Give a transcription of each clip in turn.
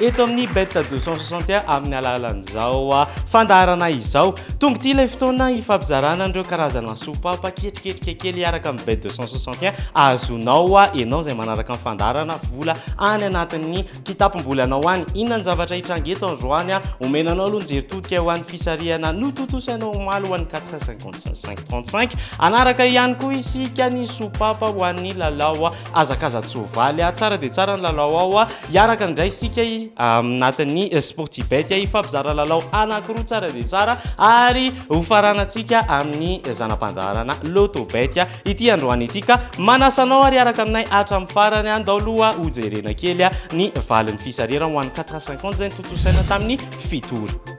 eto amin'ny bet deux cent soixante et un amin'ny alalan'izao fandaharana izao. Tonga ity ilay fotoana hifampizarana an'ireo karazana sopapa ketriketrika kely hiaraka amin'ny bet deux cent soixante et un azonao ianao izay manaraka ny fandaharana vola any anatin'ny kitapom-bolanao any. Inona ny zavatra hitranga eto androany? Omena anao aloha ny jery todika ho an'ny fisarihana notontosainao omaly ho an'ny quatre cent cinquante cinq trente cinq. Hanaraka ihany koa isika ny sopapa ho an'ny lalao Hazakaza-tsoavaly a! Tsara dia tsara ny lalao ao a! Hiaraka indray isika aminatin'ny Sportibet hifampizara lalao anankiroa tsara dia tsara ary hofaranantsika amin'ny zana-pandaharana Lotobet ity androany ity ka manasa anao ary hiaraka aminay hatramin'ny farany a! Ndao aloha hojerena kely ny valin'ny fisarihana ho an'ny 450 izay notontosaina tamin'ny fito ora.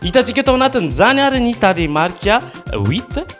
Hitantsika tao anatin'izany ary ny tarehimarika huit.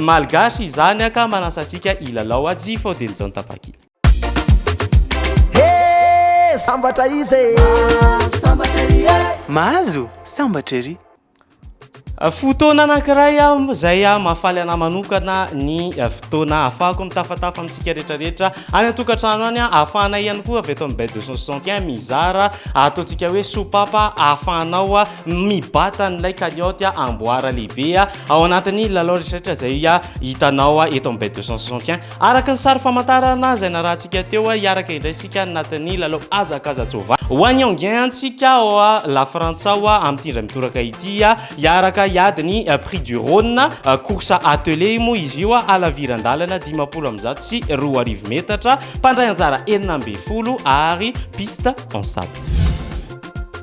Malgache izany a ka manasa antsika hilalao a tsy fao dia ny jaon-tapakila. Hey, sambatra izy e! Mahazo sambatra ery e! Mahazo sambatra ery! Fotoana anankiray izay mahafaly anà manokana ny fotoana ahafahako mitafatafa amintsika rehetrarehetra any an-tokantrano any. Ahafahanay ihany koa avy eto amin'ny Bay 261 mizara ataontsika hoe sopapa ahafahanao mibata an'ilay kalioty amboara lehibe. Ao anatin'ny lalao rehetraretra izay hitanao eto amin'ny bet 261, araka ny sary famantarana izay narahantsika teo, hiaraka indray isika anatin'ny lalao hazakaza tsova. Ho an'i Enghien antsika ao Lafrantsa ao amin'ity indray mitoraka ity, hiaraka hiady ny prix du Rhône, course attelée moa izy io, halaviran-dalana dimampolo amby zato sy roa arivo metatra, mpandray anjara enina ambin'ny folo ary piste en sable.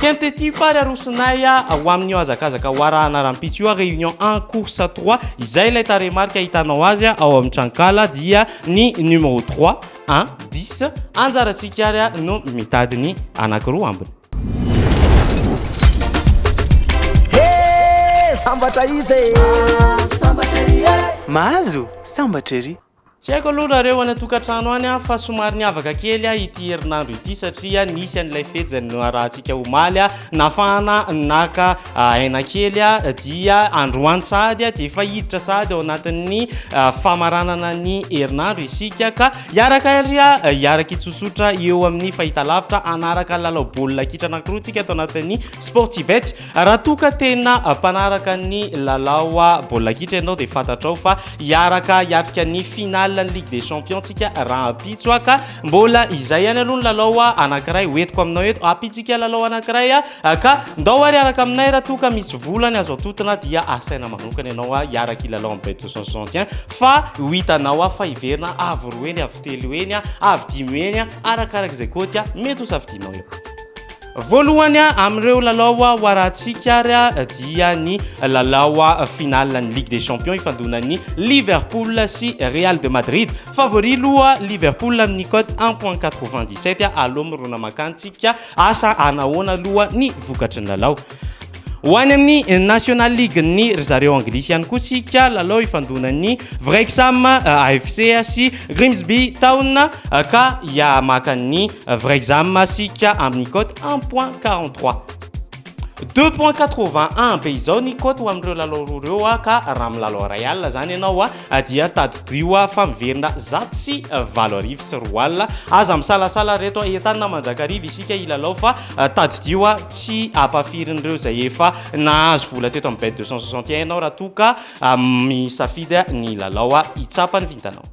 Kent ity fa ry arosonay a! Ho amin'io hazakazaka ho arahana rahampitso io a, réunion un course trois, izay ilay tarehimarika ahitanao azy ao amin'ny tranonkala dia ny numéro trois, un, dix, anjarantsika ary no mitady ny anankiroa ambiny. Sambatra izy e! Mahazo sambatra ery! Tsy haiko aloha nareo any an-tokantrano any an, fa somary niavaka kely an ity herinandro ity satria nisy an'ilay fejy noharahantsika omaly an, nafahana naka aina kely an, dia androany sahady an dia efa hiditra sahady ao anatin'ny famaranana ny herinandro isika ka hiaraka ary hiaraka hitsotsotra eo amin'ny fahitalavitra hanaraka lalao baolina kitra anankiroa tsika ato anatin'ny Sportsybet. Raha toa ka tena mpanaraka ny lalao baolina kitra ianao dia fantatrao fa hiaraka hiatrika ny finale ny Ligue des Champions tsika rahampitso ka mbola izay ihany aloha ny lalao anankiray hoentiko aminao eto hampitsika lalao anankiray ka ndao ary hiaraka aminay raha toa ka misy vola ny azo antotina dia asaina manokana ianao hiaraka hilalao amin'ny Bet 261 fa ho hitanao fa hiverina avo roa heny avo telo heny avo dimy heny arakaraka izay koty mety ho safidianao eo. Voalohany amin'ireo lalao ho arahantsika ary dia ny lalao finale ny Ligue des Champions ifandonan'ny Liverpool sy Real de Madrid. Favori loha Liverpool amin'ny cote un point quatre-vingt-dix-sept aloha mirona mankany tsika asa hanahoana aloha ny vokatry ny lalao ho any amin'ny National League ny ry zareo Anglisy ihany koa tsika lalao ifandonan'ny Wrexham AFC sy Grimsby Town ka hiamaka ny Vrai exam masika amin'ny cote un point quarante trois. Deux point quatre vingt un be izao ny cote ho amin'ireo lalao roa ireo a ka raha milalao iray alina izany ianao a dia tadidio a fa miverina zato sy valo arivo sy roa alina. Aza misalasala ry reto a, entanina mandrakariva isika hilalao fa tadidio a tsy ampahafirin'ireo izay efa nahazo vola teto amin'ny bet deux cent soixante et un ianao raha toa ka misafidy ny lalao hitsapa ny vintanao.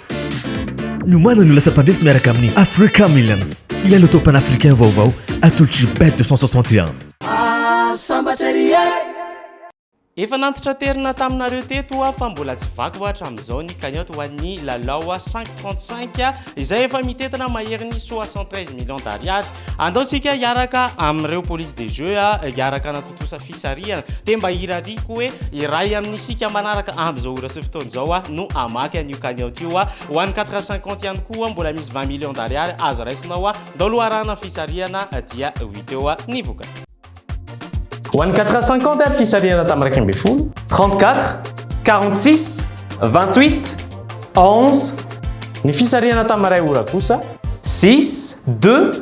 Niomana ny ho lasa mpandresy miaraka amin'ny Africa Millions ilay loto panafricain vaovao atolotr'i Bet 261. Efa nantitraterina taminareo teto hoa fa mbola tsy vaky hoa hatramin'izao ny cagnotte ho an'ny Lalao 535 izay efa mitentina maherin'ny 73 millions d'ariary. Andao isika hiaraka amin'ireo police des jeux hiaraka Trosa fisarihana. Dia mba irariako hoe iray amin'isika manaraka amin'izao ora sy fotoana izao aho no hamaky an'io cagnotte io. Ho an'ny quatre heures cinquante ihany koa mbola misy vingt millions d'ariary azo raisina ao daholo hoarahana ny fisarihana dia ho hita eo ny vokany. Ho an'ny quatre heures cinquante ary fisarihana tamin'ny iraika ambin'ny folo, trente quatre, quarante six, vingt huit, onze, ny fisarihana tamin'ny iray ora kosa, six, deux,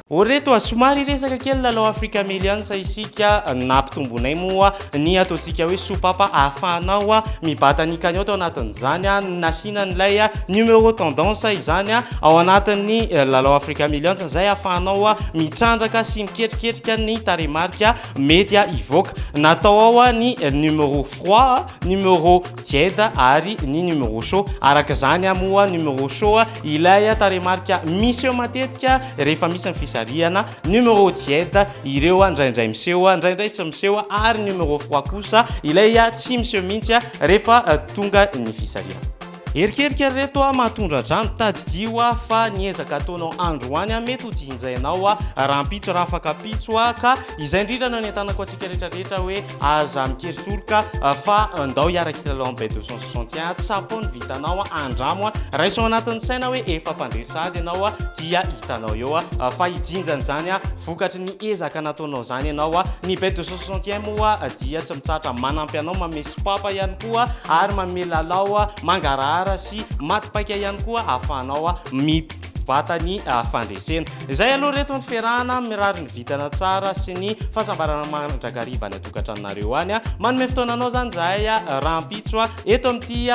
O ry reto a! Somary hiresaka kely lalao Africa Millions isika. Nampitombonay moa ny ataontsika hoe sopapa ahafahanao mibata ny cagnotte ao anatin'izany. Nasiana an'ilay numéro tendance izany ao anatin'ny lalao Africa Millions izay ahafahanao mitrandraka sy miketriketrika ny tarehimarika mety hivoaka. Natao ao ny numéro froid, numéro Jed ary ny numéro show. Araka izany moa numéro show ilay tarehimarika miseho matetika rehefa misy ny fisarihana, numéro Jed ireo indraindray miseho indraindray tsy miseho ary numéro froid kosa ilay tsy miseho mihitsy rehefa tonga ny fisarihana. Erikerika ry reto a, mahatondra-drano, tadidio a, fa ny ezaka ataonao androany a, mety ho jinjainao a, rahampitso raha afakampitso a, ka izay indrindra no anentanako antsika rehetra rehetra hoe, Aza mikery soroka fa ndao hiara kilalao am bet 261 a, tsapao ny vitanao a, andramo a, raiso ao anatin'ny saina hoe efa mpandre sady ianao a, dia hitanao eo a, fa hijinja an'izany a, vokatry ny ezaka nataonao zany ianao a, ny bet 261 moa dia tsy mitsahatra manampy anao, manome sopapa ihany koa ary manome lalao mangarahara sy mati-paika ihany koa ahafahanao mi. vatany fandresena. Izay aloha reto ny fiarahana, mirary ny vintana tsara sy ny fahasambarana mandrakariva any an-tokantranonareo any. Manome fotoananao izany izahay rahampitso eto amin'ity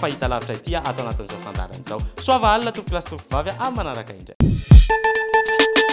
fahitalavitra ity ato anatin'izao fandaharana izao. Soava alina tompokolahy sy tompokovavy amin'ny manaraka indray.